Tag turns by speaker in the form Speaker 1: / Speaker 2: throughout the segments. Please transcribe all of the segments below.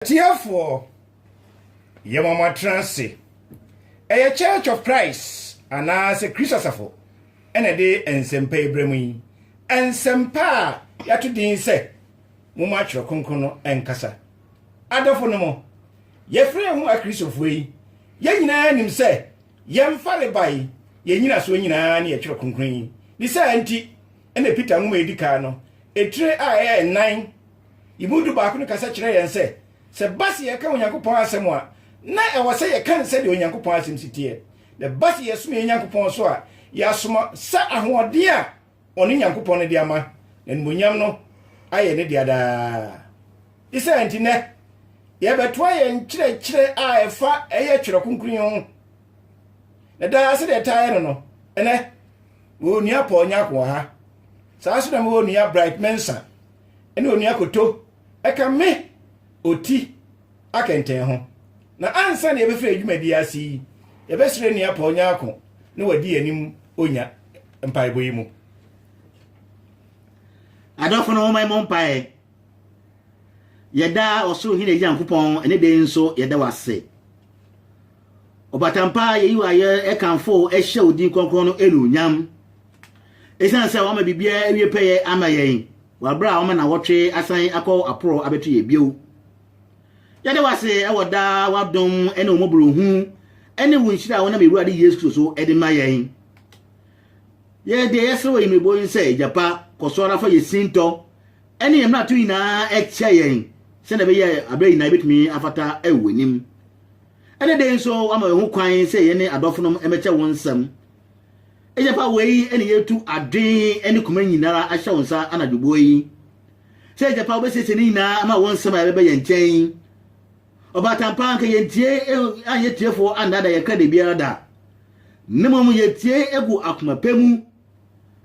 Speaker 1: Atiefoɔ, yɛma mo atena ase. Ɛyɛ Church of Christ anaasɛ Kristo Asafo na ɛde nsɛmpa yi brɛ mo yi. Nsɛmpa a yɛato din sɛ Momma Twerɛ Kronkron no Nkasa. Adɔfonom, yɛfrɛ yɛn ho Akristofoɔ yi, yɛn nyinaa nim sɛ yɛn farebae, yɛn nnyinasoɔ nyinaa ne yɛn Twerɛ Kronkron yi. Ne saa nti na Peter nwoma a ɛdi kan no, etire a ɛyɛ nnan, Yɛn mu dubaako no kasa kyerɛɛ yɛn sɛ, sɛ ɛba sɛ yɛka Onyankopɔn asɛm a, na ɛwɔ sɛ yɛka no sɛdeɛ Onyankopɔn asɛm si teɛ. Na ɛba sɛ yɛsom yɛn Nyankopɔn so a, yɛasom sɛ ahoɔden a ɔno Nyankopɔn no de ama, na animuonyam no ayɛ ne dea daa. Ne saa nti, nnɛ yɛbɛtoa yɛn nkyerɛkyerɛ a ɛfa ɛyɛ Twerɛ Kronkron yi ho. Na daa sɛdeɛ ɛtaa yɛ no no, ɛnɛ mewɔ onua Paul Nyarko wɔ ha. Saa nso na mewɔ onua Bright Mensah. ne Onua Koto ka me oti akɛntɛn ho. Na ansa na yɛbɛfiri yɛn dwumadie ase yi, yɛbɛsrɛ Nua Paul Nyarko na wadi yɛn anim onya mpaebɔ yi mu.
Speaker 2: Adɔfo no wɔma mmɔ mpae. Yɛda ɔsoro hene Nyankopɔn ne dɛn nso yɛda wase. Ɔbaatan mpa a yɛyi wo ayɛ ɛkamfo wo ɛhyɛ wo din kronkron no anuonyam. Ɛsiane sɛ wama biribiara awie pɛyɛ ama yɛn wɔ aberɛ a wama nawɔtwe asan akɔ aporo abɛto yɛn bio. Yɛda wo ase wɔ daa w'adom ne wo mmɔborɔhunu ne wo nhyira a wonam Awurade Yesu Kristo so de ma yɛn. Yɛ deɛ yɛsrɛ wɔ yɛmmerɛbɔ yi sɛ gya pa kɔ so ara fa yɛ sintɔ ne yɛn mmarato nyinaa kyɛ yɛn sɛdeɛ ɛbɛyɛ aberɛ nyinaa yɛbɛtumi afata wɔ w'anim. Ɛne dɛn nso ama yɛn ho kwan sɛ yɛne adɔfonom mmɛkyɛ wɔn nsɛm. Ɛyɛ fa wei ne yɛtu adwene ne koma nyinara ahyɛ wo nsa anadwo boɔ yi. Sɛ ɛyɛ fa wobɛsiesie ne nyinaa ama wo nsɛm a ɛbɛbɛ yɛn nkyɛn. Ɔbaatampa anka yɛn tie anyɛ tiefoɔ andaada yɛn kra da biara da. Ne mmom yɛtie egu akoma pɛ mu.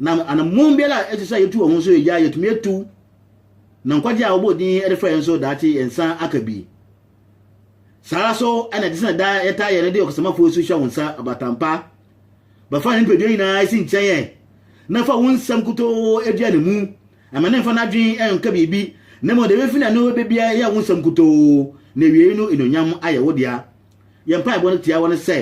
Speaker 2: Na anammɔn biara a ɛsɛ sɛ yɛtu wɔ ho nso yɛgya yɛtumi atu. Na nkwagye a wɔbɔ din de frɛ yɛn nso daakye yɛn nsa aka bi. Saa ara so na ɛte sɛ na daa yɛtaa yɛ no de ɔkasamafo asu hyɛ wo nsa abaatan pa. Bɛfa ne nipadua nyinaa si nkyɛn ɛ, na fa wo nsɛm nkutoo dua ne mu. Ɛma no mfa n'adwene nka biribi, na mmom deɛ ɛbɛfi n'ano aba biara yɛ wo nsɛm nkutoo, na awiei no anuonyam ayɛ wo dea. Yɛn mpaebɔ no tiawa ne sɛ,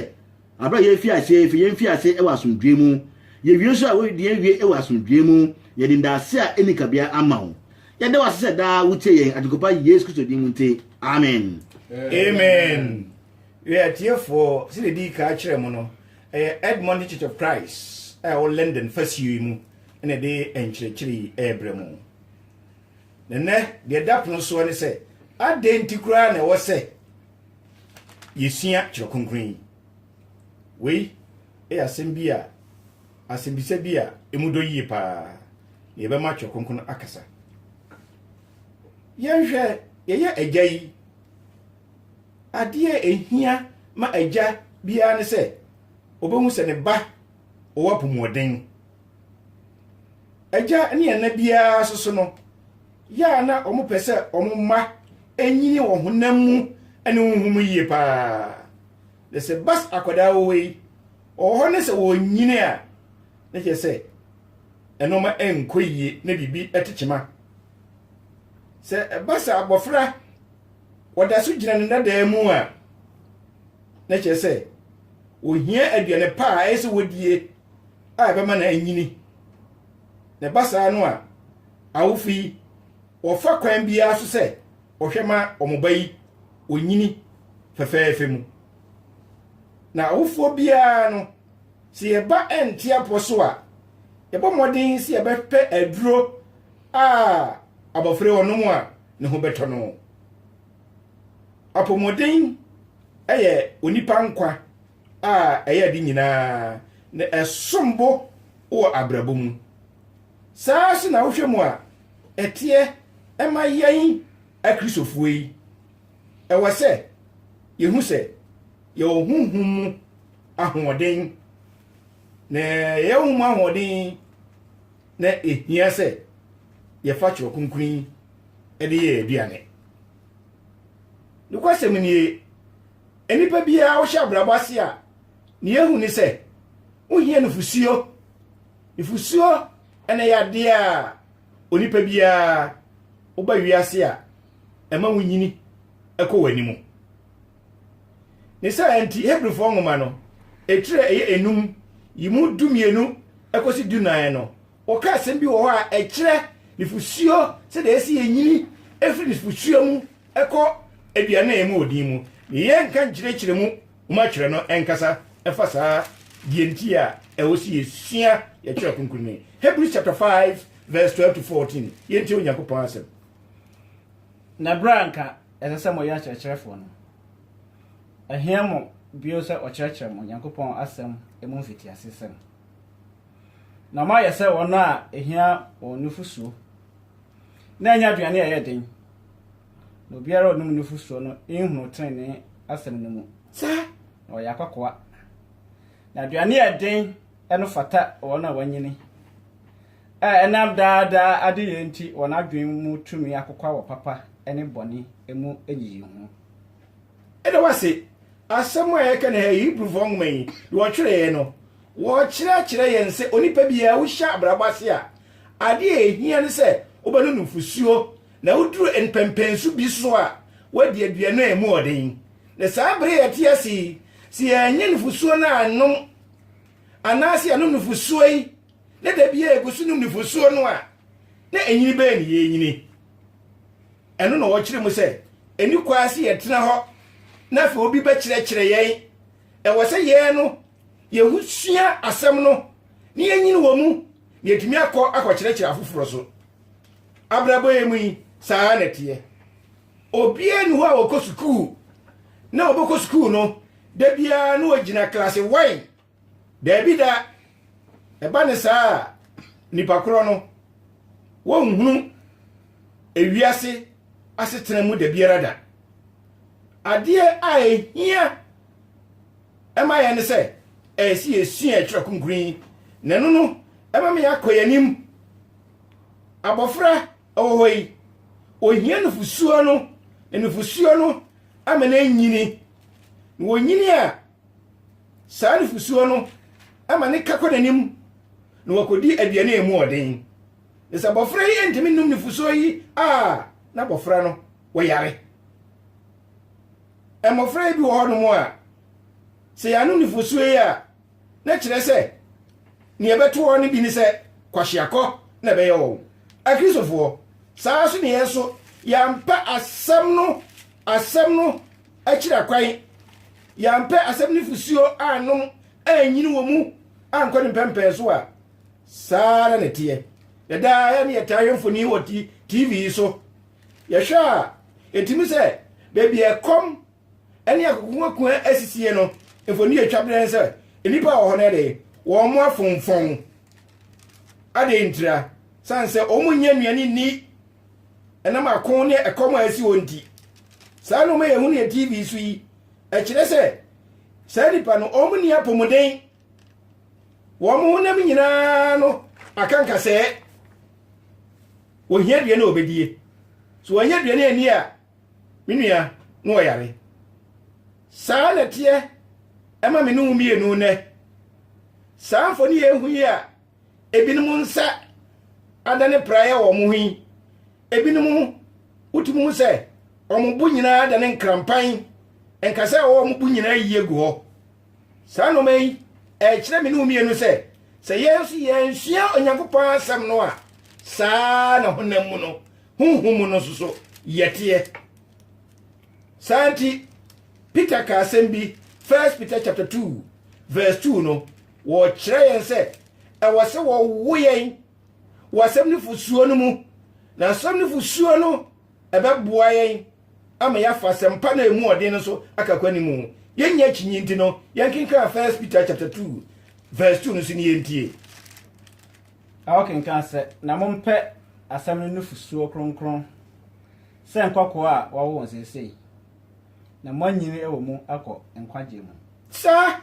Speaker 2: Bere a yefi ase a, yɛn fi ase wɔ asomdwoe mu. Yewie nso a, yɛn wie wɔ asomdwoe mu. Yɛde ndaase a enni kabea ama wo. Yɛda wo ase sɛ daa wutie yɛn, Agyenkɔpa Yesu Kristo din mu nti, amen. Amen.
Speaker 1: Yɛ atiefoɔ, sɛdeɛ ɛdii ka akyerɛ mo no, ɛyɛ Edmonton Church of Christ a ɛwɔ London fasuo yi mu na ɛde nkyerɛkyerɛ yi ɛrebrɛ mo. Na nɛ, deɛ ɛda pono soɔ ne sɛ, adɛn nti koraa na ɛwɔ sɛ yɛsua Twerɛ Kronkron yi? Wei yɛ asɛm bi a, asɛmbisa bi a ɛmu dɔ yie paa na yɛbɛma Twerɛ Kronkron no akasa. Yɛnhwɛ, yɛyɛ agya yi, adeɛ ɛhia ma agya biara ne sɛ ɔbɛhu sɛ ne ba ɔwɔ apɔmuden. Agya ne ɛna biara nso so no, yɛ a na wɔpɛ sɛ wɔn mma nyini wɔ honam mu ne honhom mu yie paa. Na sɛ bas akwadaa wɔ hɔ yi, wɔwɔ hɔ ne sɛ wɔnyini a, na kyerɛ sɛ ɛnoɔma nkɔ yie na biribi tekyema. Sɛ ɛba sɛ abɔfra wɔda so gyina ne dadaa mu a, na kyerɛ sɛ wɔhia aduane pa a ɛyɛ sɛ wɔdie a ɛbɛma no anyini. Na ɛba saa no a, awofo yi wɔfa kwan biara so sɛ wɔhwɛ ma wɔn ba yi onyini fɛfɛɛfɛ mu. Na awofoɔ biara no, sɛ yɛba ɛnte apɔ so a, yɛbɔ mmɔden sɛ yɛbɛpɛ aduro a abɔfra yi ɔnom a ne ho bɛtɔ no. Apɔmuden yɛ onipa nkwa a ɛyɛ ade nyinaa na ɛsom bo wɔ abrabɔ mu. Saa nso na wohwɛ mu a ɛteɛ ɛma yɛn Akristofoɔ yi. Ɛwɔ sɛ yɛhu sɛ yɛwɔ honhom mu ahoɔden, na yɛyɛ honhom ahoɔden na ɛhia sɛ yɛfa twerɛ kronkron yi de yɛ aduane. Nokwasɛm nie, Nnipa biara a wohyɛ abrabɔ ase a, nea ehu ne sɛ wohia nufusuo. Nufusuo na ɛyɛ adeɛ a onipa biara woba wiase a ɛma wonyini kɔ w'anim. Ne saa nti, Hebrifoɔ nwoma no, etire a ɛyɛ enum yi mu dumienu kɔsi dunan no, wɔka asɛm bi wɔ hɔ a ɛkyerɛ nufusuo sɛdeɛ ɛsɛ yɛnyini firi nufusuo mu Ɛkɔ aduane a ɛmu wɔ din mu. Yɛnka nkyerɛkyerɛ mu ma atwerɛ no nkasa ɛfa saa deɛ nti a ɛwɔ sɛ yɛsua yɛtwerɛ kronkron no. Hebrews chapter 5 verse 12 to 14 yɛntie Onyankopɔn asɛm.
Speaker 3: Na berɛ a anka ɛsɛ sɛ moyɛ akyerɛkyerɛfoɔ no, ɛhia mo bio sɛ ɔkyerɛkyerɛ mo Onyankopɔn asɛm mu mfitiasesɛm. na moayɛ sɛ wɔn a ehia wɔn nufusuo, na ɛnyɛ aduane a ɛyɛ den, na obiara a ɔnom nufusuo no nhunu trenee asɛm no mu, saa na ɔyɛ
Speaker 1: akwakoa.
Speaker 3: Na aduane a ɛden no fata wɔn a wɔanyini, a ɛnam daa daa adeyɛ nti wɔn adwene mu tumi akokwa wɔ papa ne bɔne mu nyiyimu ho. Ɛda
Speaker 1: wo ase. Asɛm a yɛka nnɛ ha yi, Hebrifo nhoma yi de wɔtwerɛeɛ no, wɔkyerɛkyerɛ yɛn sɛ onipa biara a wohyɛ abrabɔ ase a, adeɛ a ɛhia ne sɛ wobɛno nufosuo, na woduru mpɛnpɛnsu bi so a, woadi aduane a ɛmu yɛ den. Na saa berɛ a yɛte ase yi, sɛ yɛannya nufosuo no annom, anaasɛ yɛanom nufosuo yi, na da biara yɛgu so nom nufosuo no a, na ɛnyini bɛn na yɛrenyini? Ɛno na wɔkyerɛ mu sɛ, Ɛni kwan sɛ yɛtena hɔ na afei obi bɛkyerɛkyerɛ yɛn. Ɛwɔ sɛ yɛn no yɛn ho sua asɛm no na yɛnyini wɔ mu na yɛtumi akɔ akɔkyerɛkyerɛ afoforɔ so. Abrabɔ yɛ mu yi, saa ara na ɛteɛ. Obiara ni hɔ a ɔkɔ sukuu na ɔbɛkɔ sukuu no da biara na ɔgyina klase wan Daabi da, ɛba ne saa a, nnipa korɔ no, wɔnhunu ewiase asetena mu da biara da. Adeɛ a ɛhia ɛma yɛn ne sɛ, ɛyɛ sɛ yɛsua ɛtwerɛ kronkron yi, na ɛno no ɛma me akɔ yɛn anim. Abɔfra ɛwɔ hɔ yi, ohia nufusuo no, na nufusuo no ama no anyini. Na wɔnyini a, Saa nufosuo no ma ne ka kɔ n'anim na wakɔdi aduane a ɛmu ɔden. Na sɛ abɔfra yi ntumi nnom nufosuo yi a, na abɔfra no wɔyare. Mmɔfra yi bi wɔ hɔnom a, sɛ yɛanom nufosuo yi a, na kyerɛ sɛ nea ɛbɛto wɔn no bi ne sɛ kwahyeakɔ na ɛbɛyɛ wɔn. Akristofoɔ, saa nso ne yɛn nso, yɛampa asɛm no asɛm no akyira kwan. Yɛampɛ asɛm no fusuo annom annyini wɔ mu ankɔ ne mpɛmpɛn so a, saa ara na ɛteɛ. Na daa yɛ ne yɛtaa hwɛ mfoni wɔ TV yi so. Yɛhwɛ a, ɛtumi sɛ baabi a ɛkɔm ne akokoakua asisie no, mfoni yɛ twa berɛ sɛ nnipa a wɔ hɔ no de wɔn mo afomfɔn. Adɛn ntira? Sane sɛ wɔn nyɛ nnuane nni. ɛnam ako ne ɛkɔm a asi wɔn nti. Saa nneɛma a yɛhu no yɛ TV so yi, ɛkyerɛ sɛ saa nnipa no wɔn nni apɔmuden. Wɔn honam nyinaa no aka nkasɛɛ. Wɔhia aduane a wɔbɛdie. So wɔanya aduane ani a, me nua, na wɔyare. Saa na ɛteɛ ɛma me ne wo mmienu nnɛ. Saa mfoni yɛn hu yi a ebinom nsa adane praeɛ wɔ wɔn ho yi, ebinom wotumi hu sɛ wɔn bo nyinaa adane nkrampan, nka sɛ wɔwɔ wɔn bo nyinaa yi agu hɔ. Saa nneɛma yi ɛkyerɛ me ne wo mmienu sɛ sɛ yɛn nso yɛnsua Onyankopɔn asɛm no a saa na honam mu no honhom mu no nso so yɛteɛ. Saa nti Peter ka asɛm bi 1 Peter chapter 2 verse 2 no Wɔkyerɛ yɛn sɛ ɛwɔ sɛ wɔwo yɛn wɔ asɛm no fosuo no mu, na asɛm no fosuo no ɛbɛboa yɛn ama yɛafa asɛmpa no a ɛmu ɔden no so aka kwan no mu. Yɛnnya akyinnye nti no, yɛnkenkan 1 Peter chapter 2 verse 2 no so ne yɛntie.
Speaker 3: A Ɔkenkan sɛ, Na mompɛ asɛm no nufosuo kronkron sɛ nkɔkoaa a wɔawo wɔn seesei, na moanyini wɔ mu akɔ nkwagyeɛ mu. Saa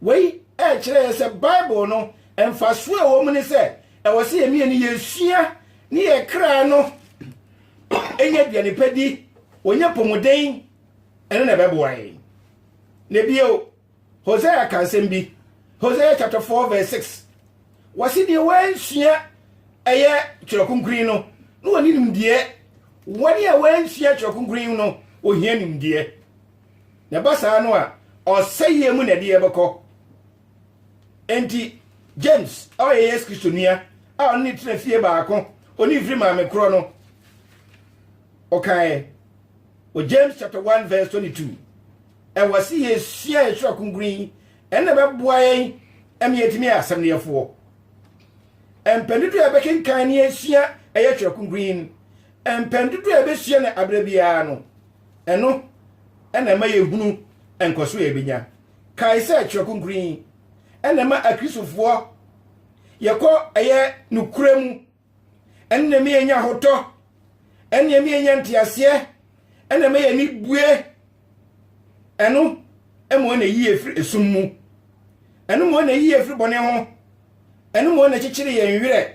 Speaker 1: Wei rekyerɛ yɛn sɛ Bible no mfaso a ɛwɔ mu ne sɛ ɛwɔ sɛ yɛn mmienu yɛsua ne yɛn kra no nya aduane pa di, wɔnya pomuden, ɛno na ɛbɛboa yɛn. Na bio, Hosea ka nsɛm bi, Hosea chapter 4 verse 6, wɔse deɛ wɔansua ɛyɛ twerɛ kronkron no na wɔne nimdeɛ, wɔne a wɔansua twerɛ kronkron no wɔhia nimdeɛ. na ɛba saa no a ɔsɛeɛ mu na ɛde yɛbɛkɔ enti james a ɔyɛ yesu kristo nua a ɔne ne tena fie baako ɔne mfiri maame korɔ no ɔkaeɛ wɔ james chapter 1 verse 22 ɛwɔ se yɛsua yɛsora kronkron yi ɛnna bɛboa yɛn ɛma yɛtumi yɛ asɛm no yɛfoɔ mpɛn dodoɔ a yɛbɛkenkan ne yɛsua ɛyɛ twerɛ kronkron yi mpɛn dodoɔ a yɛbɛsua no aberɛ biara no Ɛno na ɛma yɛhunu nkɔso a yɛbɛnya. Kae sɛ Twerɛ Kronkron yi na ɛma Akristofoɔ yɛkɔ ɛyɛ nokorɛ mu, ɛno na ɛma yɛnya ahotɔ, ɛno na ɛma yɛnya nteaseɛ, ɛno na ɛma yɛn ani bue, ɛno ma wɔn ayi yɛn firi esum mu, ɛno ma wɔn ayi yɛn firi bɔne ho, ɛno ma wɔn akyekyere yɛn werɛ.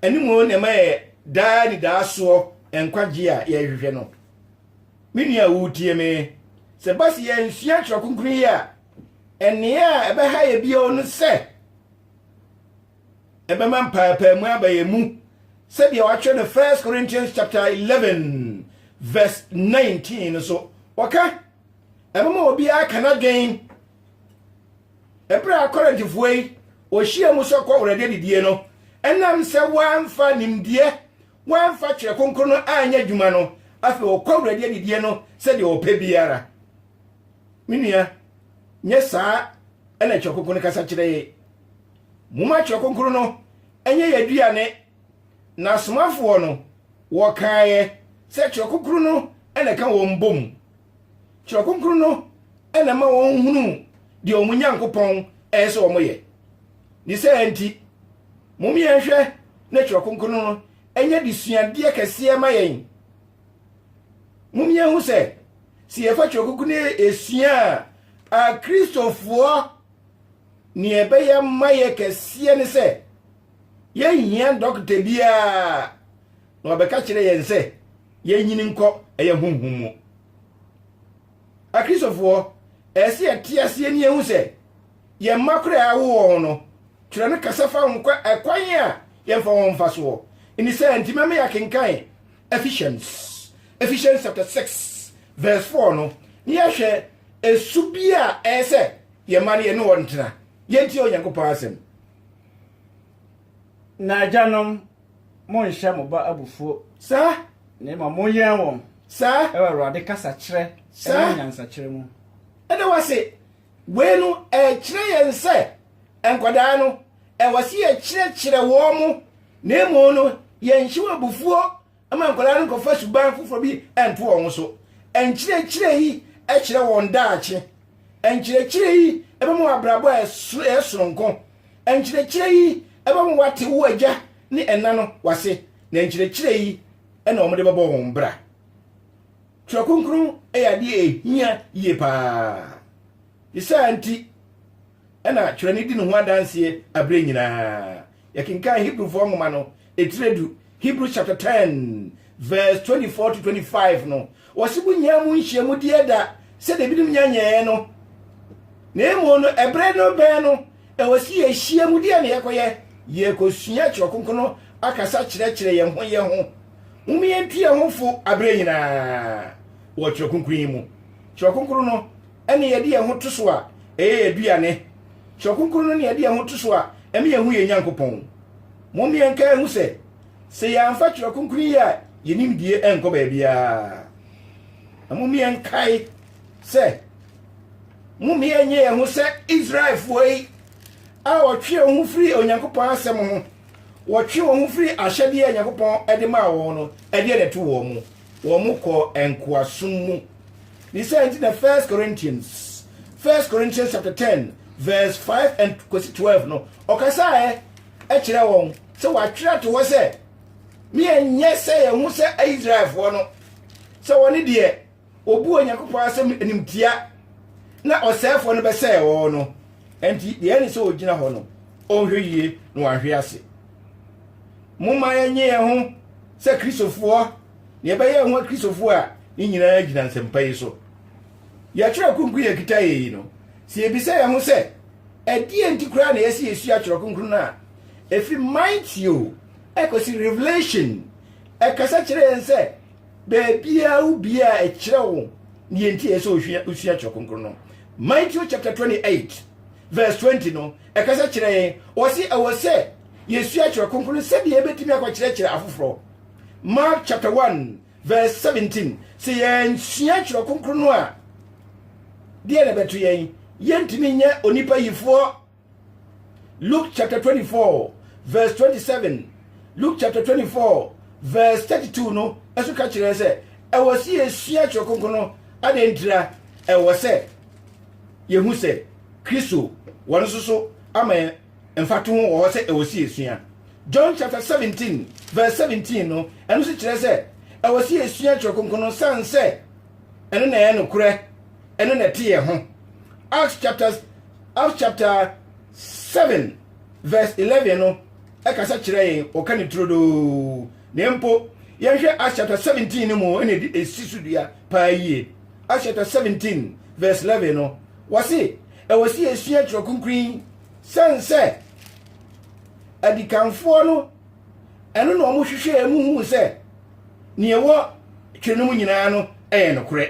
Speaker 1: ɛno mmom na ɛma yɛ daa nidaasoɔ nkwagyeɛ a yɛrehwehwɛ no. Me nua a woretie me, sɛ ba sɛ yɛnsua twerɛ kronkron yi a, ɛnea a ɛbɛha yɛ bio no sɛ ɛbɛma mpaapaamu aba yɛn mu sɛdeɛ wɔatwerɛ no 1 Corinthians chapter 11 verse 19 no so wɔka ɛbɛma obiara ka n'adwen Bere a Korintfo yi ohyiaa mu sɛ kɔwrɛde adidie no, ɛnam sɛ wɔamfa nimdeɛ, wɔamfa Twerɛ Kronkron no anyɛ adwuma no, afei wɔkɔwrɛde adidie no sɛdeɛ wɔpɛ biara. Me nua, nyɛ saa na Twerɛ Kronkron no kasa kyerɛ yɛn. Momma Twerɛ Kronkron no nyɛ yɛn aduane. Na asomafoɔ no, wɔkaeɛ sɛ Twerɛ Kronkron no na ɛka wɔn bɔ mu. Twerɛ Kronkron no na ɛma wɔhunu deɛ wɔn Nyankopɔn ɛyɛ sɛ wɔyɛ. Ne sɛ nti, mom yɛnhwɛ na Twerɛ Kronkron no ɛnyɛ de suadeɛ kɛseɛ ma yɛn. Mom yɛnhu sɛ, sɛ yɛfa Twerɛ Kronkron no ɛsua a, Akristofoɔ neɛ ɛbɛyɛ ma yɛ kɛseɛ ne sɛ, yɛnhia dɔkta biara na ɔbɛka kyerɛ yɛn sɛ, yɛnnyini nkɔ ɛyɛ honhom mu. Akristofoɔ, ɛyɛ sɛ yɛte aseɛ ne yɛhu sɛ yɛn mma koraa a awo wɔn no, twerɛ no kasa fa ho kwa ɛkwan a yɛmfa wɔn mfa soɔ. Ɛne sɛ nti mɛma yɛakenkan Ephesians, Ephesians chapter 6 verse 4 no, ne yɛahwɛ ɛsu bi a ɛyɛ sɛ yɛn mma no yɛne wɔn ntena. Yɛntie Onyankopɔn asɛm. Na
Speaker 3: agyanom, monnhyɛ mo ba abufuo. Saa. Na
Speaker 1: mmom monyɛn
Speaker 3: wɔn. Saa. Wɔ Awurade
Speaker 1: kasakyerɛ
Speaker 3: ne nyansakyerɛ
Speaker 1: mu.
Speaker 3: Saa. Ɛda wo ase.
Speaker 1: Wei no, ɛkyerɛ yɛn sɛ nkwadaa no, ɛwɔ sɛ yɛkyerɛkyerɛ wɔn, na mmom no, yɛnhyɛ wɔn abufuo ma nkwadaa no nkɔfa suban foforɔ bi nto wɔn ho so. Nkyerɛkyerɛ yi kyerɛ wɔn daakye. Nkyerɛkyerɛ yi bɛma wɔn abrabɔ a ɛyɛ soronko. Nkyerɛkyerɛ yi bɛma woate wo agya ne ɛna no w'ase, na nkyerɛkyerɛ yi na wɔde bɛbɔ wɔn bra. Twerɛ kronkron yɛ adeɛ ɛhia yie paa. Ne saa nti na twerɛ no di ne ho adanseɛ aberɛ nyinaa. Yɛkenkan Hebrifoɔ nwoma no, Etire du, Hebrews chapter ten verse twenty four to twenty five no, wɔsi mu nyinaa mu nhyiamu di ɛda sɛdeɛ ebinom nya nyɛɛ no. Na emu no, ɛbere no bɛn no, ɛwɔ si yɛhyia mu deɛ na yɛkɔyɛ, yɛkɔsua Twerɛ Kronkron no akasa kyerɛkyerɛ yɛn ho yɛn ho. Mom yɛntu yɛn ho fo abere nyinaa wɔ Twerɛ Kronkron yi mu. Twerɛ Kronkron no ɛne yɛde yɛn ho to so a, ɛyɛ yɛn aduane. Twerɛ Kronkron no ne yɛde yɛn ho to so a, ɛme yɛn hu yɛn Nyankopɔn. Mom yɛnka nhu sɛ, sɛ yɛamfa Twerɛ Kronkron yi a yɛn nimdie ɛnkɔ baabiara, na mom yɛnkae sɛ, mom yɛnyɛ yɛn ho sɛ Israelfoɔ yi a wɔtwe wɔn ho firi Onyankopɔn asɛm ho, wɔtwe wɔn ho firi ahyɛdeɛ a Onyankopɔn de maa wɔn no, ɛdeɛ na ɛto wɔn mu, wɔn kɔɔ nkoasom mu. Ne saa nti na First Corinthians, First Corinthians chapter 10 verse 5 and kwasi 12 no, ɔkasaeɛ kyerɛ wɔn sɛ wɔatwerɛ ato hɔ sɛ, Me ɛnyɛ sɛ ɛho sɛ Israelfoɔ no, sɛ wɔne deɛ wɔbu Onyankopɔn asɛm animtia na ɔsɛefoɔ no bɛsɛe wɔn no. Enti deɛ ɛne sɛ ɔgyina hɔ no, ɔnhwɛ yie na wahwe ase. Momma yɛnye yɛn ho sɛ Kristofoɔ, deɛ ɛbɛyɛ ho Kristofoɔ a ne nyinaa gyina nsɛmpa yi so. Yɛatwerɛ kunkun yɛkita yei no, sɛ yɛbisa yɛn ho sɛ, Ɛdeɛn nti koraa na ɛyɛ sɛ yɛsua Twerɛ Kronkron no a ɛfiri Mateo kɔsi Revelation? Ɛkasa kyerɛ yɛn sɛ baabiara wo biara ɛkyerɛ wo deɛ nti ɛyɛ sɛ wosua Twerɛ Kronkron no. Mateo chapter 28 verse 20 no ɛkasa kyerɛ yɛn ɔse ɛwɔ sɛ yɛsua Twerɛ Kronkron no sɛdeɛ yɛbɛtumi akɔkyerɛkyerɛ afoforɔ. Mark chapter 1 Verse 17, Sɛ yɛansua Twerɛ Kronkron no a, deɛ na ɛbɛto yɛn? Yɛntumi nyɛ onipa yifoɔ. Luke chapter 24 verse 27, Luke chapter 24 verse 32 no ɛso ka kyerɛ sɛ ɛwɔ sɛ yɛsua Twerɛ Kronkron no. Adɛn ntira? Ɛwɔ sɛ yɛhu sɛ Kristo wɔn nso so ama yɛn Mfatoho wɔ hɔ sɛ ɛwɔ sɛ yesua. John chapter seventeen verse seventeen no, ɛno nso kyerɛ sɛ ɛwɔ sɛ yesua Kyerɛw Kronkron no san sɛ ɛno na ɛyɛ nokorɛ, ɛno na ɛte yɛn ho. Acts chapter Acts chapter seven verse eleven no ɛkasa kyerɛ yɛn, wɔka ne turodoo. Na mpo yɛnhwɛ Acts chapter seventeen no mu ɛna esi so dua paa yie. Acts chapter seventeen verse eleven no, Wɔse ɛwɔ sɛ yɛsua Twerɛ Kronkron yi sɛn sɛ adikanfoɔ no ɛno na wɔn hwehwɛɛ mu huu sɛ nea ɛwɔ twerɛ no mu nyinaa no ɛyɛ nokorɛ.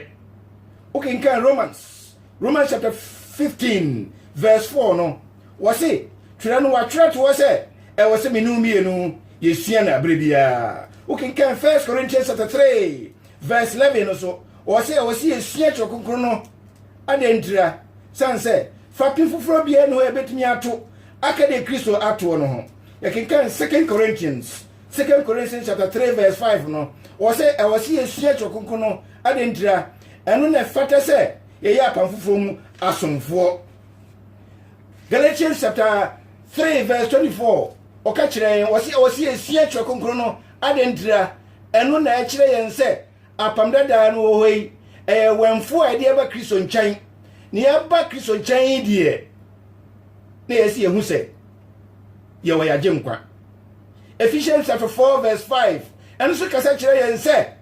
Speaker 1: Wokenkan Romans, Romans chapter 15 verse 4 no, wɔse twerɛ no wɔatwerɛ to hɔ sɛ ɛwɔ sɛ mene mmienu yɛsua no aberɛ biara. Wokenkan 1 Corinthians chapter 3 verse 11 no so, wɔse ɛwɔ sɛ yɛsua Twerɛ Kronkron no Adɛn ntira? Sane sɛ fapem foforɔ biara nni hɔ a ɛbɛtumi ato aka deɛ Kristo atoɔ no ho. Yɛkenkan Second Corinthians, Second Corinthians chapter 3 verse 5 no, wɔ sɛ ɛwɔ sɛ yɛsua Twerɛ Kronkron no. Adɛn ntira? Ɛno na ɛfata sɛ yɛyɛ apam foforɔ mu asomfoɔ. Galatians chapter 3 verse 24, ɔka kyerɛ yɛn, wɔ sɛ ɛwɔ sɛ yɛsua Twerɛ Kronkron no. Adɛn ntira? Ɛno na ɛkyerɛ yɛn sɛ Apam Dadaa no wɔ hɔ yi, ɛyɛ awɛmfoɔ a yɛde aba Kristo nkyɛn. Na yɛaba Kristo nkyɛn yi deɛ, na yɛsi yɛn ho sɛ yɛwɔ yɛagye nkwa. Ephesians chapter 4 verse 5 ɛno nso kasa kyerɛ yɛn sɛ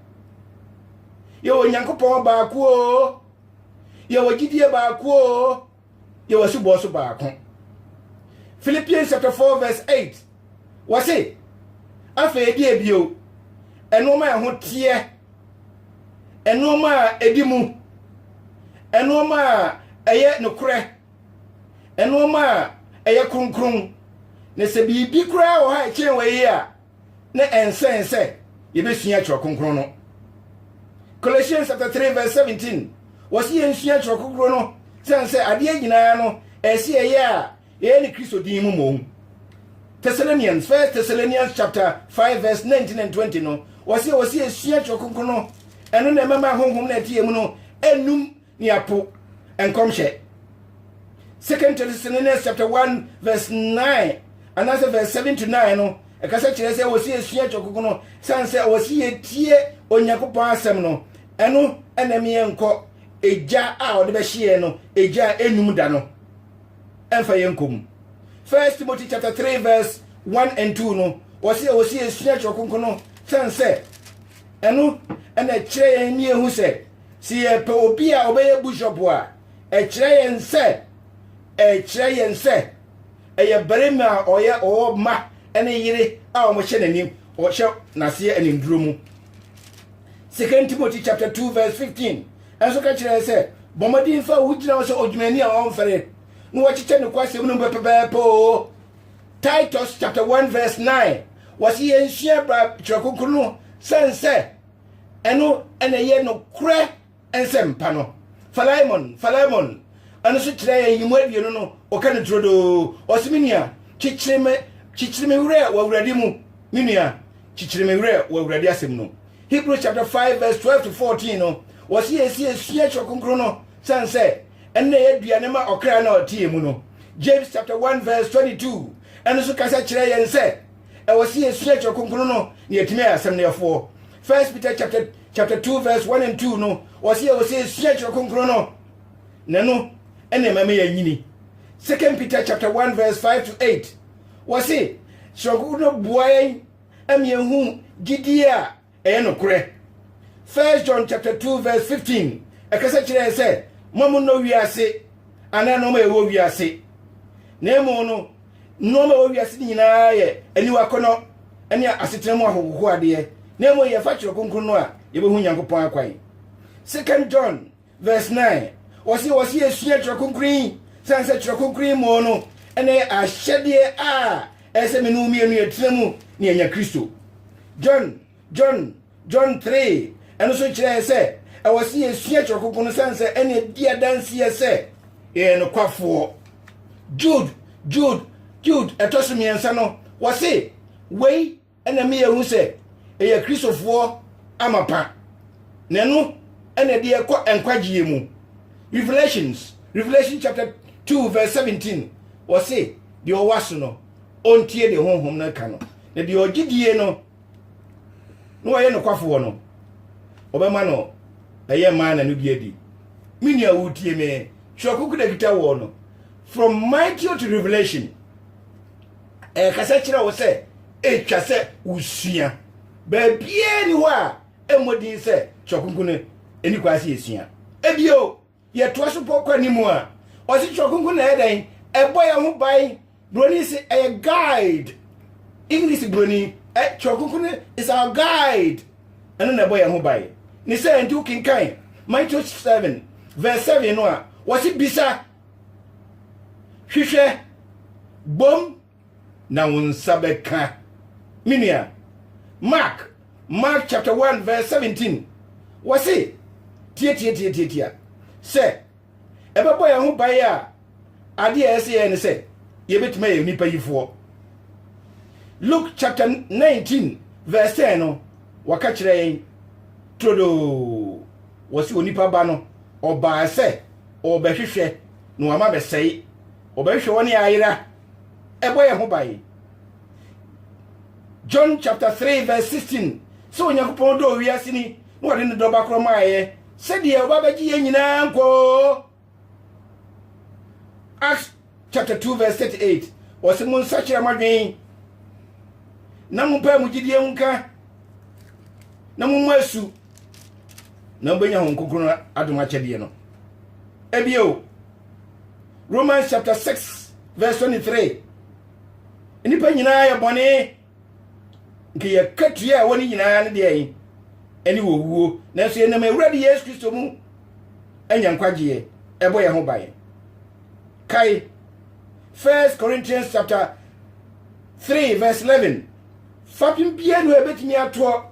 Speaker 1: yɛwɔ Onyankopɔn baako o, yɛwɔ gyidie baako o, yɛ w'asubɔɔ so baako. Philippians chapter 4 verse 8 wɔse afei ɛde abio ɛnoɔma a ɛho teɛ ɛnoɔma a ɛdi mu ɛnoɔma a ɛyɛ nokorɛ ɛnoɔma a ɛyɛ kronkron na sɛ biribi koraa wɔ hɔ a ɛkyɛn wɔ yi a na ɛnsɛ yɛn sɛ yɛbɛsua Twerɛ Kronkron no. Colossians chapter 3 verse 17 wɔsi yɛn nsua Twerɛ Kronkron no sɛn sɛ adeɛ nyinaa no ɛsi ɛyɛ a ɛyɛ ne Kristo din mu mmom. Thessalonians, First Thessalonians chapter 5 verse 19 and 20 no wɔsi wɔsi yɛsua Twerɛ Kronkron no ɛno na ɛmɛma honhom na ɛte yɛn mu no ɛnum ne apo nkɔmhyɛ. Second Thessalonians chapter one verse nine anaasɛ verse seven to nine no ɛkasa kyerɛ sɛ wɔsi esua kyɛkoko no san sɛ wɔsi etie Onyankopɔn asɛm no ɛno ɛna mi nkɔ egya a ɔde bɛhyeɛ no egya a enum da no ɛnfa yɛn nkɔ mu. First Timothy chapter three verse one and two no wɔsi a wɔsi esua kyɛkoko no san sɛ ɛno ɛna kyerɛ yɛn ni ehu sɛ. Sɛ yɛpɛ obi a ɔbɛyɛ bishop a, ɛkyerɛ yɛn sɛ ɛkyerɛ yɛn sɛ ɛyɛ barima a ɔyɛ ɔwɔ mma ne yere a wɔhyɛ n'anim ɔhyɛ n'aseɛ animduro mu. Second Timothy chapter 2 verse 15 ɛnso ka kyerɛ sɛ bɔ mmɔden fa wo gyina sɛ odwumani a ɔmfɛre na wɔkyekyɛ ne kwasɛm no pɛpɛpɛpɛ o. Titus chapter 1 verse 9 wɔsi yɛn sua bra kyerɛ kunkun no sɛn sɛ ɛno na ɛyɛ nokorɛ nsɛmpa no phalaimon phalaimon ɛno nso kyerɛ yɛ nyimu aduonu no ɔka no turodoo ɔse me nua kyekyere me kyekyere me werɛ wɔ awurade mu me nua kyekyere me werɛ wɔ awurade asɛm no hebrews chapter 5 verse 12 to 14 no wɔse yɛsi asua kyerɛ kronkron no sane sɛ ɛnna yɛ aduane ma ɔkra na ɔteɛ mu no james chapter 1 verse 22 ɛno nso kasa kyerɛ yɛn sɛ ɛwɔ sɛ yɛsua kyerɛ kronkron no na yɛatumi ayɛ asɛm no yɛfoɔ first peter chapter chapter 2 verse 1 and 2 no ɔsɛ yɛwɔ sɛ yɛsua kyerɛ kronkron no na no ɛna ɛma ma yɛanyini second peter chapter 1 verse 5 to 8 wɔse kyerɛ kronkron no boa yɛn ɛma yɛhu gyidie a Ɛyɛ nokorɛ. First John chapter 2 verse 15 ɛkasa kyerɛ yɛn sɛ ma mo nnɔ wiase anaa nneɛma a ɛwɔ wiase. Na emu no nneɛma a ɛwɔ wiase nyinaa yɛ aniwa akɔnɔ ne asetena mu ahohohoadeɛ. Na emu yɛfa twerɛ kronkron no a yɛbɛhu Nyankopɔn akwan. Second John Verse nine, Wɔse wɔse yɛsua Twerɛ Kronkron yi sane sɛ Twerɛ Kronkron yi mmɔɔ no ɛna yɛ ahyɛdeɛ a ɛyɛ sɛ me ne wo mmienu yɛtena mu na yɛanya Kristo. John, John, John three, ɛno nso kyerɛ yɛ sɛ ɛwɔ se yɛsua Twerɛ Kronkron no sane sɛ ɛna ɛdi adanseɛ sɛ yɛyɛ nokwafoɔ. Jude, Jude, Jude ɛtɔ so mmiɛnsa no wɔse wei ɛna ɛma yɛhu sɛ ɛyɛ kristofoɔ amapa na ɛno ɛna ɛde ɛkɔ nkwagyeɛ mu revelations revelation chapter 2 verse 17 wɔse deɛ ɔwɔ aso no ɔntie deɛ honhom no ka no na deɛ ɔgye die no na ɔyɛ nokwafoɔ no ɔbɛma no ɛyɛ maa na no bi adi me nua wotie me twerɛ koko da kita wɔ no from matthew to revelation ɛkasa kyerɛ wo sɛ ɛtwa sɛ wosua. Baabiaa ni hɔ a ɛmmɔ din sɛ Kyerɛ Kronkron no ɛni kwan sɛ yɛsua. Ebio, yɛtoa so pɔ kɔ anim a, ɔse Kyerɛ Kronkron no ɛyɛ dɛn? Ɛbɔ yɛn ho ban. Buroni se ɛyɛ guide. English buroni, ɛ, Kyerɛ Kronkron no is our guide. Ɛno na ɛbɔ yɛn ho ban. Ne sɛ nti wokenkan Matthew 7 verse 7 no a, wɔse bisa, Hwehwɛ, bom na wo nsa bɛka. Me nua, Mark, Mark chapter 1 verse 17, wɔse, Tiatiatiatiatia, sɛ ɛbɛbɔ yɛn ho ban a, adeɛ a ɛsɛ yɛn ne sɛ yɛbɛtumi ayɛ nnipa yifoɔ. Luke chapter 19 verse 10 no, wɔka kyerɛ yɛn turodoo, wɔse onipa ba no ɔbaa sɛ ɔrebɛhwehwɛ na wama bɛsɛe. Ɔbɛhwehwɛ wɔn a ayera. Ɛbɔ yɛn ho ban. John chapter 3 verse 16 sɛ Onyankopɔn dɔɔ wiase ni na ɔde ne dɔ ba korɔ maaeɛ sɛdeɛ ɔba bɛgye yɛn nyinaa nkwa o. Acts chapter two verse thirty eight ɔsi mo nsakyera mo adwene na mo mpae mo gyidie ho nka na mo mmɔ asu na mo bɛnya ho nkonkron adom akyɛdeɛ no ebio romans chapter six verse twenty three nnipa nyinaa yɛ bɔne nka yɛ katua a ɛwɔ ne nyinaa no deɛ yi ɛne wɔwuo nanso yɛnam awurade yesu kristo mu anya nkwagyeɛ ɛbɔ yɛn ho ban kae first corinthians chapter 3 verse 11 fapem biara no ɛbɛtumi atoɔ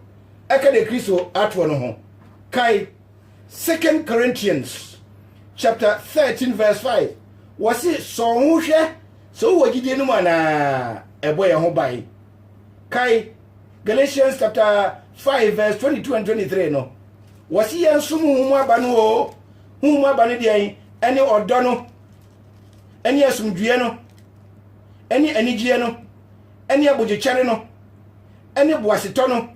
Speaker 1: ɛka de kristo atoɔ no ho kae second corinthians chapter 13 verse 5 wɔse sɔn ho hwɛ So wowɔ gyidie no mu anaa? Ɛbɔ yɛn ho ban. Kae Galatians chapter 5 verse 22 and 23 no. Wɔse yɛn som huhum aba no o. Huhum aba no deɛn? Ɛne ɔdɔ no, ɛne asomdwoeɛ no, ɛne anigyeɛ no, ɛne abogyekyɛre no, ɛne boasetɔ no,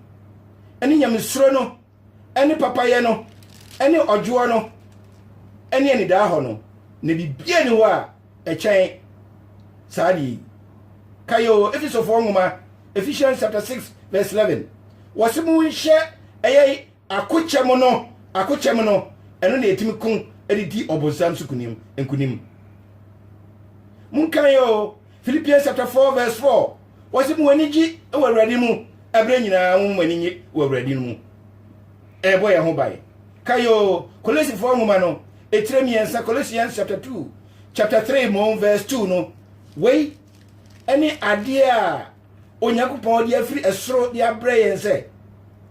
Speaker 1: ɛne nyamesuro no, ne papayɛ no ne ɔdwoɔ no ne anidaahɔ no, na biribiara nni hɔ a ɛkyɛn saa adeɛ yi. Kae o, Efesofoɔ nwoma, Ephesians chapter 6 verse 11. Wɔse monhyɛ ɛyɛ akokyɛm no, akokyɛm no, ɛno na yɛtumi ko de di ɔbonsam so kunim, nkunim. Monkae o, Philippians chapter 4 verse 4 wɔsi mu ani gye wɔ awurade mu ɛberɛ nyinaa mu ani nye wɔ awurade mu ɛbɔ yɛn ho ban kayo kolesifoɔ nwoma no etire mmiɛnsa Colossians chapter 2 chapter 3 mom verse 2 no wei ɛne adeɛ a onyankopɔn de afiri ɛsoro de abrɛ yɛn sɛ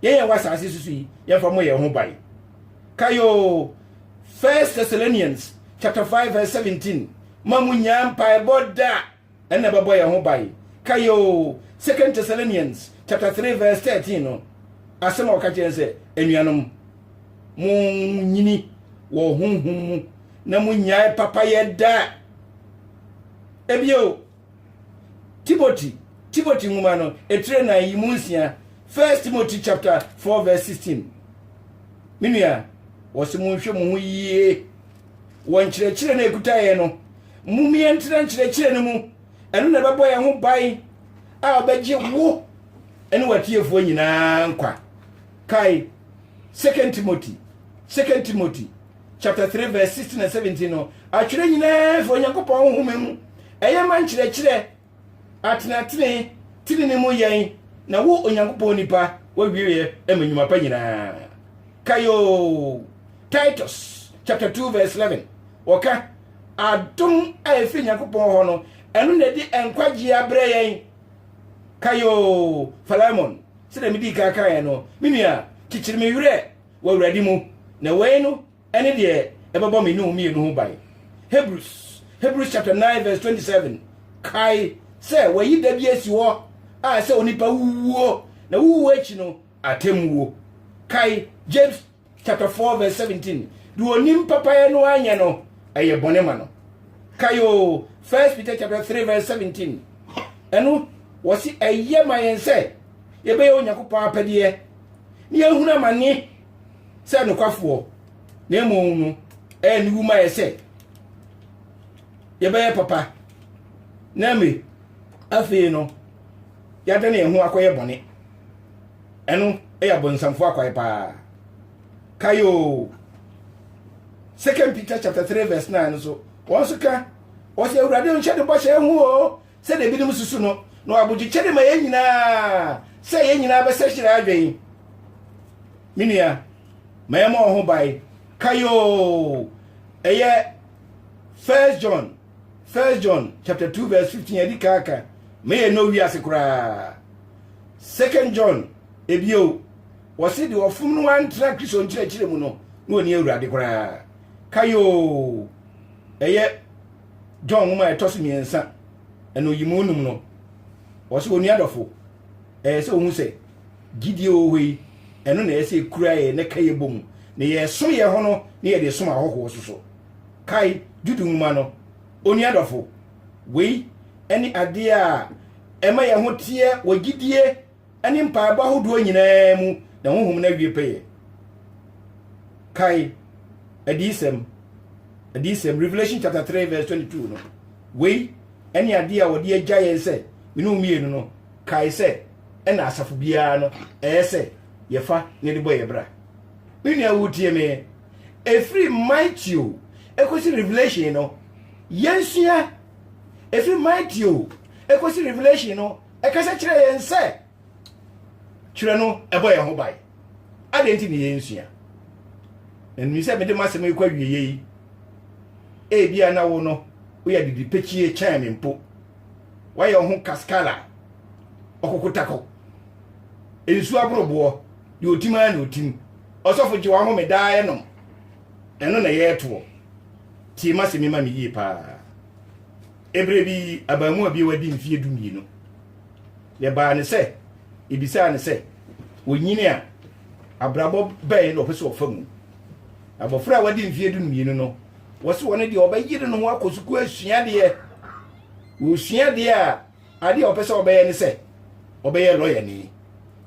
Speaker 1: yɛn yɛn wɔ asase soso yi yɛmfa mo yɛn ho ban kayo first thessalonians chapter 5 verse 17 ma mo nyaa mpaebɔ da ɛna bɛbɔ yɛn ho ban kayo second thessalonians chapter 3 verse 13 no asɛm a wɔka kyerɛ sɛ anuanom monyini wɔ honhom mu na monyae papayɛ da ebio Timothy Timothy nwoma no etire nan yi mu nsia First Timothy chapter four verse sixteen Me nua wɔsi mo nhwɛ mo ho yie wɔ nkyerɛkyerɛ na ekuta yɛn no mo mmiɛ ntena nkyerɛkyerɛ no mu ɛno na ɛbɛbɔ yɛn ho ban a ɔbɛgye wo ɛne watiefoɔ nyinaa nkwa kae Second Timothy Second Timothy chapter 3 verse 16 and 17 no atwerɛ nyinaa fi onyankopɔn honhoma mu ɛyɛ ma nkyerɛkyerɛ atenatene tenene mu yɛn na wo onyankopɔn nipa wawieɛ ma nnwuma pa nyinaa kayo titus chapter 2 verse 11 wɔka adom a ɛfiri nyankopɔn hɔ no ɛno na ɛde nkwagyeɛ abrɛ yɛn kayo philemon sɛdeɛ medii kan kaeɛ no me nua kyekyere me werɛ wɔ Awurade mu, na wei no ne deɛ ɛbɛbɔ me ne wo mmienu ho ban. Hebrews Hebrews chapter 9 verse 27 kae sɛ wɔayi da bi asi hɔ a sɛ onipa wuwuo na wuwuo akyi no atemmuo. Kae James chapter 4 verse 17 deɛ onim papayɛ no anyɛ no ɛyɛ bɔne ma no. Kae o 1 Peter chapter 3 verse 17 ɛno wɔsi ɛyɛ ma yɛn sɛ yɛbɛyɛ Onyankopɔn apɛdeɛ ne yɛhunu amane sɛ nokwafoɔ na mmom no ɛyɛ ne wuma yɛ sɛ yɛbɛyɛ papa na me afei no yɛada ne yɛn ho akɔyɛ bɔne ɛno ɛyɛ abɔnsamfoɔ akwae paa kayo second peter chapter 3 verse 9 no so wɔn nso ka wɔsɛ awurade nhyɛ ne bɔhyɛ ho o Sɛdeɛ ebinom susu no, na ɔwɔ abodwokyɛre ma yɛn nyinaa sɛ yɛn nyinaa bɛsɛkyerɛ adwene. Me nua, ma yɛmmɔ wo ho ban. Kae oo, ɛyɛ First John, First John chapter 2 verse 15 adi kan ka, ma yɛn no wiase koraa. Second John, ebio, wɔse deɛ ɔfom no antra Kristo nkyerɛkyerɛ mu no, na ɔni awurade koraa. Kae oo, ɛyɛ john nwoma a ɛtɔ so mmiɛnsa ɛna oyimu num no wɔsɛ wɔn nuadɔfo ɛyɛ sɛ ohun sɛ gyidie wɔ hɔ yi ɛno na ɛsɛ ekura yɛ ne ka yɛ bɔ mu na yɛsom yɛ hɔ no na yɛde som ahɔhoɔ soso kae judu nwoma no onuadɔfo wei ɛne adeɛ a ɛma yɛ ho teɛ wɔ gyidie ne mpaebɔ ahodoɔ nyinaa mu na honhom no awie pɛyɛ. Kae Adiyisɛm, Adiyisɛm, Revelation chapter 3 verse 22 no. Wei ɛne adeɛ a wɔde agya yɛn sɛ mene mmienu no. Kae sɛ ɛna asafo biara no ɛyɛ sɛ yɛfa ne de bɔ yɛ bra. Me nua wotie me, ɛfiri Matthew ɛkɔsi Revelation no, yɛnsua ɛfiri Matthew ɛkɔsi Revelation no, ɛkasa kyerɛ yɛn sɛ twerɛ no ɛbɔ yɛn ho ban adɛn nti ne yɛnsua na nim sɛ mede m'asɛm yi kɔ awieɛ yi ebia na wo no woyɛ didipɛkyie kyɛn me mpo woayɛ wo ho kaskala ɔkokotakɔ nsu aboroboɔ deɛ ɔtim ara na ɔtim ɔsɔfo gye wahome daa ɛnom ɛno na ɛyɛ ɛtoɔ tie m'asɛm yi ma me yie paa Ebere bi abaamua bi a wadi mfeɛ du mmienu na ɛbaa ne sɛ ebisaa ne sɛ wɔnyini a abrabɔ bɛn na ɔpɛ sɛ ɔfa mu. Abɔfra a wadi mfeɛ du mmienu no wɔsi wɔn deɛ ɔbɛyere ne ho akɔ sukuu asua adeɛ. Wɔsua adeɛ a adeɛ a ɔpɛ sɛ ɔbɛyɛ ne sɛ ɔbɛyɛ lɔyani.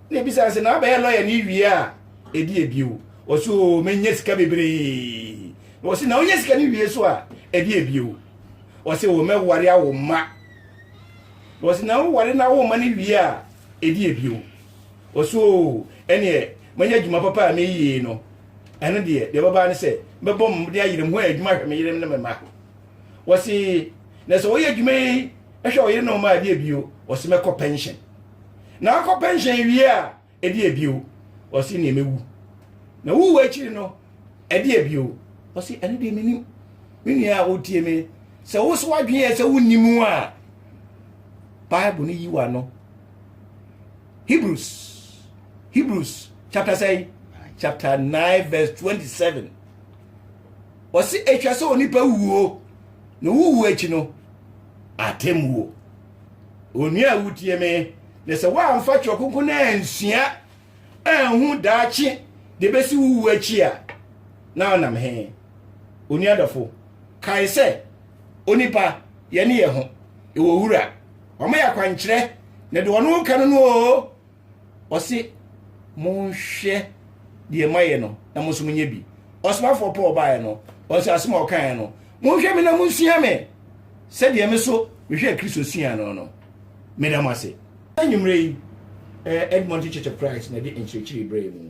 Speaker 1: Na ebisaa sɛ na abɛyɛ lɔyani wie a ɛdi ebio. Ɔsi o menya sika bebree. Na ɔsi na ɔnya sika no wie so a ɛdi ebio. wɔsi wɔn mɛware awo mma wɔsi na woware na awo mma no wie a edi ebio wɔsi oo ɛneɛ manya adwuma papa a meyie no ɛno deɛ deɛ bɛbaa ne sɛ mɛbɔ mo de ayerem ho adwuma hwɛ me yerem ne me ma wɔsi na sɛ wɔyɛ adwuma yi ɛhwɛ ɔyere ne ɔma adeɛ bio wɔsi mɛkɔ pension na akɔ pension wie a ɛde ɛbio ɔse neɛ mɛwu na wowu akyiri no ɛde ɛbio ɔse ɛno deɛ menim me nua a wotie me sɛ wo so wadweneɛ sɛ wonni mu a bible no yi wa no hebrews hebrews chapter sɛi chapter 9 verse 27 ɔse ɛtwa sɛ onipa wuo na wowu akyi no atemmuo Onua a wotie me, na sɛ woamfa Kyerɛ Kronkron no ansua anhu daakye de besi wo wu akyi a, na wonam he? Onua dɔfo, kae sɛ, onipa, yɛne yɛ ho, yɛwɔ Wura. Wama yɛ akwankyerɛ, na deɛ ɔno ka no no oo, Ɔse monhwɛ deɛ mayɛ no na mo nso monyɛ bi. Ɔsomafoɔ Paul baeɛ no, wɔn sɛ asɛm a ɔkaeɛ no, monhwɛ me na monsua me sɛdeɛ me so mehwɛ Kristo sua no no. Meda mo ase. Anwummerɛ yi, Edmonton Church of Christ na ɛde nkyerɛkyerɛ yi brɛɛ mu.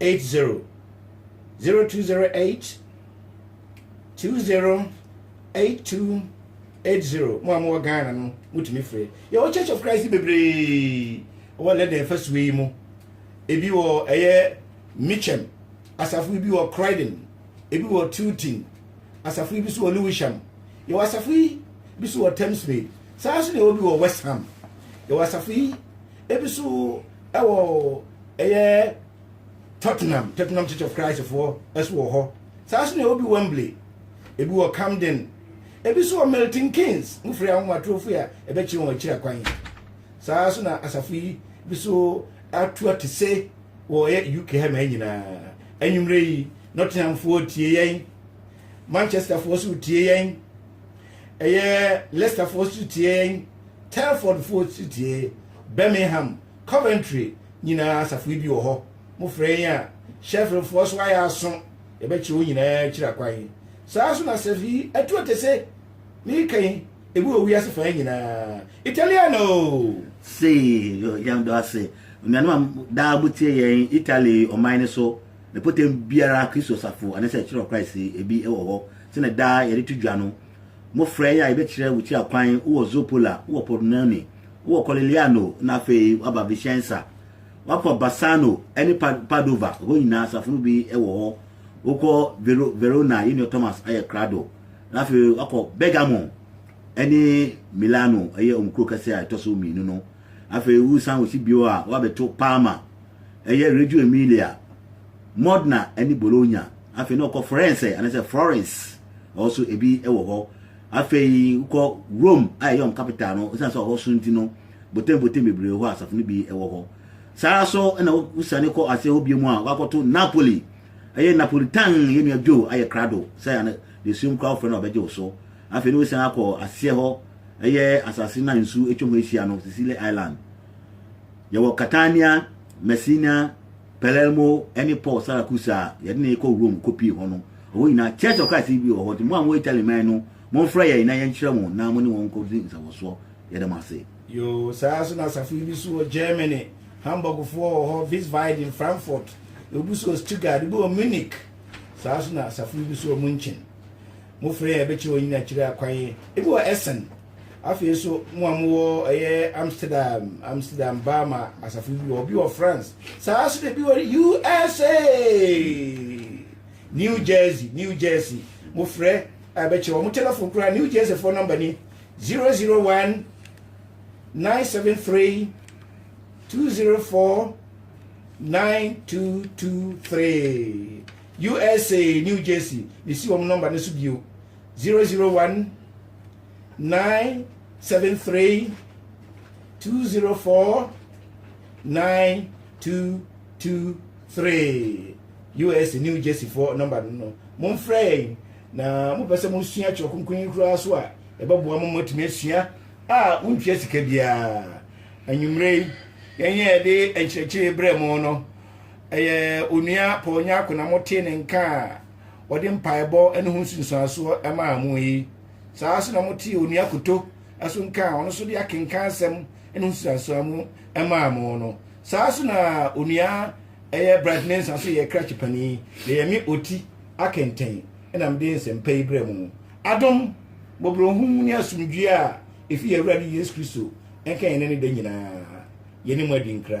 Speaker 1: 80 0208 208280 mo a mowɔ ghana no motumi frɛ yɛwɔ church of christ bebree wɔ lɛdɛn afasuo yi mu ebi wɔ ɛyɛ mitchem asafo bi wɔ croydon ebi wɔ tilton asafo bi so wɔ lewisham yɛwɔ asafo yi bi so wɔ thamesmead saa nso na ɛwɔ bi wɔ west ham yɛwɔ asafo yi ebi nso wɔ ɛyɛ tottenham tottenham church of christ foɔ nso wɔ hɔ saa nso na ɛwɔ bi wembley ebi wɔ camden ebi nso wɔ milton keynes mo firi ahomatorofo a ɛbɛkyerɛ wɔn akyiri akwan saa nso na asafo yi bi nso ato ate se wɔ ɛyɛ uk ha ma nyinaa anwummerɛ yi nottinghamfoɔ tie yɛn manchesterfoɔ nso tie yɛn ɛyɛ leicesterfoɔ nso tie yɛn Telfordfoɔ Titie, Birmingham, Coventry nyinaa asafo yi bi wɔ hɔ. Mo frɛ yɛn a, Sheffieldfoɔ so ayɛ aso, yɛbɛkyerɛ wo nyinaa akyiri akwan. Saa nso na asafo yi atu atese, mereka yi, ebi wɔ wiase fã nyinaa. Italiano! Sei,
Speaker 2: yo, yɛn dɔ ase. Onuanom a daa mo tie yɛn Italy ɔman no so, mpɔtam biara Kristo asafo, anasɛ ɛkyerɛ Christ yi, ebi wɔ hɔ. Sɛnɛ daa yɛde to dwa no, Mmofra yi a yɛbɛkyerɛ wo kyia kwan, wowɔ Zoppola, wowɔ Pordenone, wowɔ Collegliano, na afei woaba Vicenza. Woakɔ Bassano ne Padova, hɔ nyinaa asafo no bi wɔ hɔ. Wokɔ Vero, Verona, yɛn nua Thomas ayɛ krado. Na afei woakɔ Bergamo ne Milano, ɛyɛ wɔn kuro kɛse a ɛtɔ so mmienu no. Afei wosan wɔ si bio a, woabɛto Parma, ɛyɛ Reggio Emilia. Modena ne Bologna. Afei na ɔkɔ Firenze anaasɛ Florence ɛhɔ so ebi wɔ hɔ. Afei wokɔ Rome a ɛyɛ wɔn capital no ɛsiane sɛ ɔhɔ so nti no botembotem bebree hɔ a asafo no bi wɔ hɔ. Saa ara so na wosiane kɔ ase hɔ bio mu a wakɔto Napoli ɛyɛ Napolitan yɛ nua Joe ayɛ krado sɛ ana deɛ suom koraa wofrɛ no a ɔbɛgye wo so. Afei na wosiane akɔ aseɛ hɔ ɛyɛ asase no a nsuo atwa ho ahyia no Sicily Island. Yɛwɔ Catania, Messina, Palermo ne Paul Saracusa a yɛde no rekɔ Rome kɔpie hɔ no, ɛhɔ nyinaa Church of Christ bi wɔ hɔ, nti mo a mowɔ Italy man no, momfrɛ yɛn na yɛnkyerɛ mo na mo ne wɔn nkɔdi nsawɔsoɔ. Yɛda mo ase. Yoo, saa ara nso
Speaker 1: na asafo yi bi nso wɔ Germany, Hamburgfoɔ wɔ hɔ, Wiesbaden, Frankfurt, ebi nso wɔ Stuttgart, ebi wɔ Munich, saa ara nso na asafo yi bi nso wɔ München. Mofrɛ yɛn a, yɛbɛkyerɛ wɔn nyinaa akyire akwan, ebi wɔ Essen. Afei nso, mo a mowɔ ɛyɛ Amsterdam, Amsterdam baa ma asafo bi wɔ, obi wɔ France, saa nso na ebi wɔ USA, New Jersey, New Jersey. Mofrɛ a ɛbɛkyɛ wɔn telefon koraa. New Jersey fo nɔmba ni 001 973 204 9223 USA, New Jersey. Mesi wɔn nɔmba no so bio 001 nine seven three two zero four nine two two three us new jersey fo nɔmba no no momfrɛ yɛn na mopɛ sɛ mosua twerɛ kronkron yi koraa so a ɛbɛboa mo moatumi asua a wontua sika biara anwummerɛ yi yɛnyɛ yɛde nkyerɛkyerɛ berɛ mo no ɛyɛ onua paul nyako na motee ne nka a wɔde mpaebɔ ne ho nsunsuansoɔ maa mo yi saa nso na motee onua koto ɛso nka a ɔno nso de akenkan asɛm ne ho nsunsuansoɔ mu maa mo no saa nso na onua ɛyɛ bright mensa nso yɛ krakye panin na yɛ me oti akɛntɛn ɛna mede nsɛmpa yi berɛ mu adom mmɔborɔhunu ne asomdwoeɛ a ɛfiri awurade yesu kristo ɛnka yɛn ne da nyinaa yɛne mu adi nkra